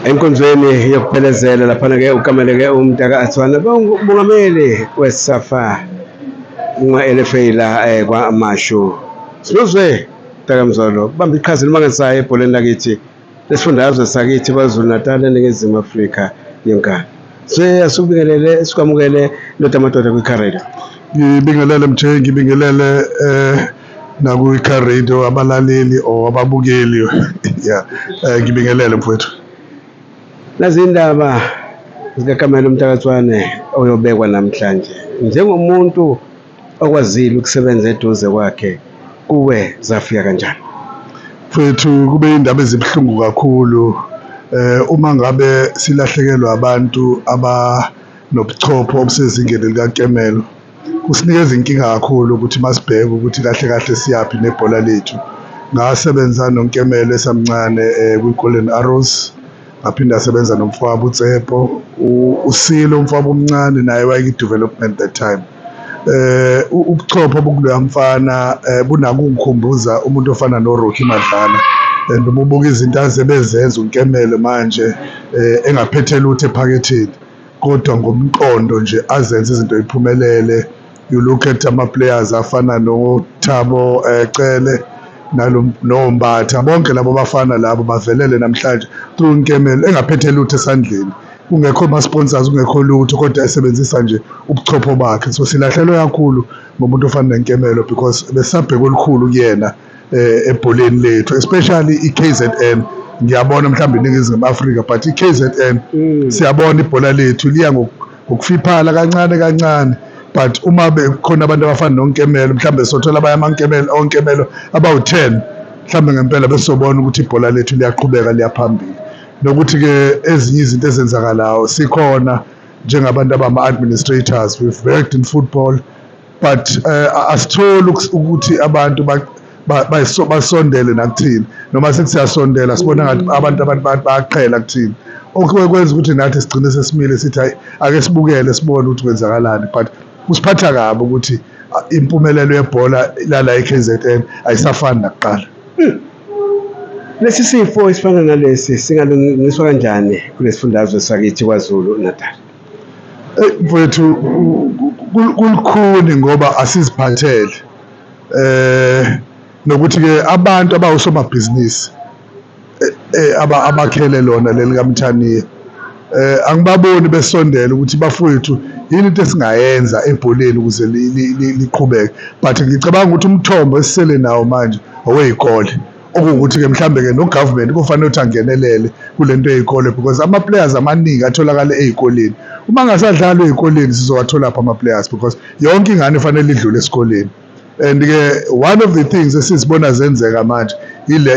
enkonzweni yokuphelezela laphana-ke ukameleke umntaka athwana bongumongameli wesafa nqwa-elefeyila um eh, kwamashu sinozwe mntakamzolo bamba iqhaza elimangazayo ebholeni lakithi lesifundazwe sakithi kwazulu natal eningizimu afrika yonkana so asubingelele sikwamukele ndoda amadoda kwikharela ngibingelele mthengi ngibingelele um eh, nakwi-car radio abalaleli or ababukeli ya eh, ngibingelele mfowethu nazindaba zikakamelo mtakathwane oyobekwa namhlanje njengomuntu okwazile ukusebenza eduze kwakhe kuwe zafika kanjani mfowethu kube indaba ezibuhlungu kakhulu eh uma ngabe silahlekelwa abantu abanobuchopho obusezingeni likakemelo kusinikeza inkinga kakhulu ukuthi masibheka ukuthi kahle kahle siyaphi nebhola lethu. Ngasebenza noNkemelo esamncane eh, kwi-Golden Arrows ngaphinde asebenza nomfowabo uTsepo usile umfowabo omncane naye wayeyi-development that time eh ubuchopho bokuloya mfana eh, bunakungikhumbuza umuntu ofana noRocky Madlala and uma ubuka izinto azebezenza uNkemelo manje eh, engaphethe lutho ephaketheni kodwa ngomqondo nje azenze izinto iphumelele you look at ama-players afana nothabo um eh, cele nombatha bonke labo bafana labo bavelele namhlanje through nkemelo engaphethe lutho esandleni kungekho ama-sponsors kungekho lutho kodwa esebenzisa nje ubuchopho bakhe so silahlelwe kakhulu ngomuntu ofana nenkemelo because besabheka olukhulu kuyena eh, ebholeni lethu especially iKZN ngiyabona mhlawumbe iningizimu Afrika but iKZN mm. siyabona ibhola lethu liya ngokufiphala kancane kancane but uma bekhona abantu abafana nonkemelo mhlawumbe sothola abanye amankemelo onkemelo abawu-10 mhlawumbe ngempela besobona ukuthi ibhola lethu liyaqhubeka liyaphambili nokuthi-ke ezinye izinto ezenzakalayo sikhona njengabantu abama-administrators we've worked in football but eh, asitholi ukuthi abantu basondele nakuthina noma sithi siyasondela sibona ngathi abantu abantu bayaqhela kuthina okwenza ukuthi nathi sigcine sesimile sithi hayi ake sibukele sibone ukuthi kwenzakalani but kusiphatha kabi ukuthi impumelelo yebhola lala eKZN ayisafani nakuqala lesi sifo esifana nalesi singalungiswa kanjani kulesifundazwe sakithi kwaZulu Natal Eyi mfwethu kulukhuni ngoba asiziphathele eh nokuthi-ke abantu abawusomabhizinisi eh, eh, abakhele lona leli kaMthaniya eh angibaboni besondela ukuthi bafowethu yini into esingayenza ebholeni ukuze liqhubeke but ngicabanga ukuthi umthombo esisele nawo manje owey'kole okuwukuthi-ke mhlawumbe-ke nogovernment kufanele ukuthi angenelele kule nto yey'kole because ama-players amaningi atholakale ey'koleni uma ngasadlalwa ey'koleni sizowatholaphi ama-players because yonke ingane fanele idlule esikoleni and-ke one of the things esizibona zenzeka manje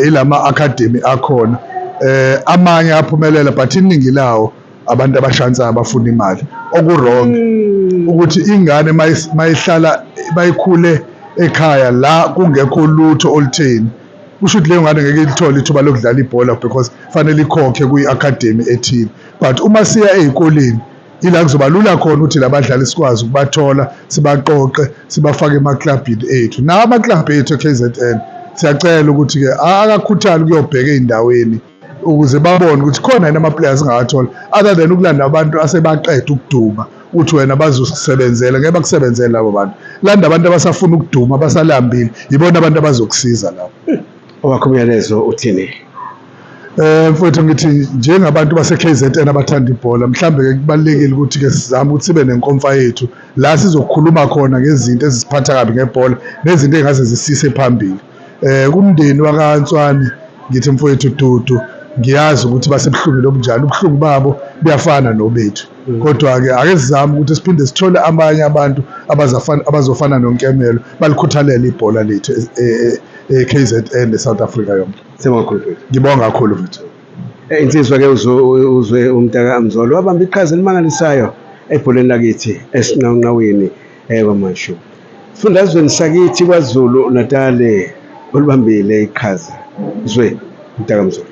ilama-academy akhona um amanye aphumelela but iningi lawo abantu abashansayo abafuna imali okuwrong mm. ukuthi ingane mayihlala bayikhule ekhaya la kungekho lutho olutheni kusho ukuthi leyo ngane ngeke ilithole ithuba lokudlala ibhola because fanele ikhokhe kwi-academy ethile but uma siya ey'koleni ila kuzoba lula khona ukuthi labadlali sikwazi ukubathola sibaqoqe sibafake emaklabhini ethu nawo amaklabhu ethu e-k z n siyacela ukuthi-ke akakhuthali ukuyobheka ey'ndaweni ukuze babone ukuthi khona yini ama-players angawathola other than ukulanda abantu asebaqeda ukuduma uthi wena bazosisebenzela ngeke bakusebenzele labo bantu landa abantu abasafuna ukuduma abasalambile yibona abantu abazokusiza labo owakho umyalezo uthini Eh mfowethu ngithi njengabantu base KZN abathanda ibhola mhlambe ke kubalekile ukuthi ke sizame ukuthi sibe nenkomfa yethu la sizokhuluma khona ngezinto ezisiphatha kabi ngebhola nezinto engaze zisise phambili Eh kumndeni wakaNtswani ngithi mfowethu Dudu ngiyazi ukuthi basebuhlungwini obunjani ubuhlungu babo buyafana nobethu mm. kodwa-ke ake sizame ukuthi siphinde sithole abanye abantu abazofana nonkemelo balikhuthalele ibhola lethu e-k e, e, z n ne-south africa yonke ngibonga kakhulu mfethu eh, insizwa ke uzwe umntaka mzolo wabamba iqhaza elimangalisayo ebholeni lakithi esinqawunqawini Yebo mashu. Fundazweni sakithi kwaZulu Natali olibambile iqhaza zwe mtakamzulu.